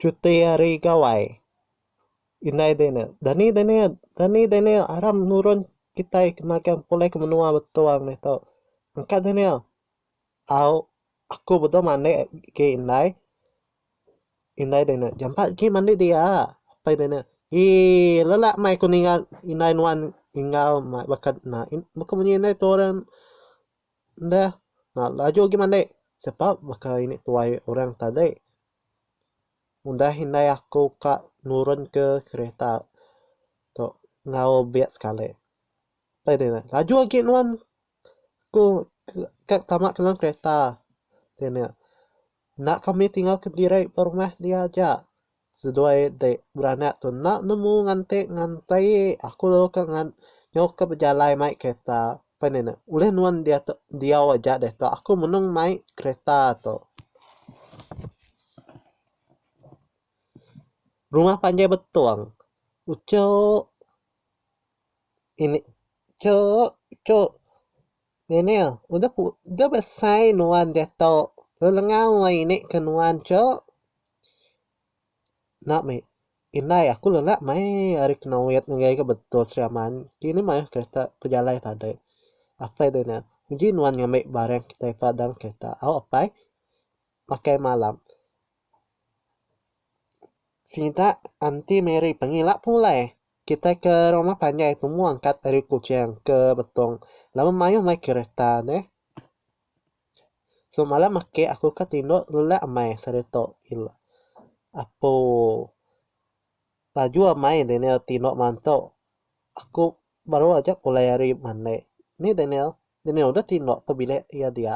Cuti hari gawai indai dinik dani dinik dani dinik aram nurun kitai ke magang pulih ke menua betung deh tu engka dinik au aku bedau manik ke indai. Indai deh ne, jampat agi mandi dia. Apai deh ne, Eii, lelak meh aku ninga indai nuan enggau meh baka na. Baka munyi indai tu orang deh na laju agi mandi. Sebab baka ini tuai orang tadi ngundah indai aku ka nurunka kereta tu enggau bia sekali. Apai deh ne, Laju agi nuan ku ka tama dalam kereta. Deh ne. Enda kami tinggal kediri ba rumah dia aja. Seduai ti beranak tu enda nemu nganti nganti aku lalu ka ngan nyau ka bejalai mai kereta. Pen inu ulih nuan dia tu diau aja deh tu aku menung mai kereta tu. Rumah panjai betong. Uchu ini uchu uchu. Neil, udah udah besai nuan diatu, lalu lengang alai ini ke nuan tu. Enda meh, indai aku lelak mai ari Kenoit ngagai ga Betong Sri Aman. Kini mayuh kereta bejalai tadai. Apai deh Neil, uji nuan ngambi barang kitai pa dalam kereta. Au apai, makai malam. Sida Aunty Mary pengila pulai. Kitai ke roma panjai tu mua angkat ari Kuching ke Betong laban mayuh mai kereta neh. Semalam ake aku ka tindok lelak amai seri tu ila. Apo laju amai Daniel tindok malam tu. Aku baru aja pulai ari mandai. Ni Daniel, Daniel udah tindok pa bilik iya dia.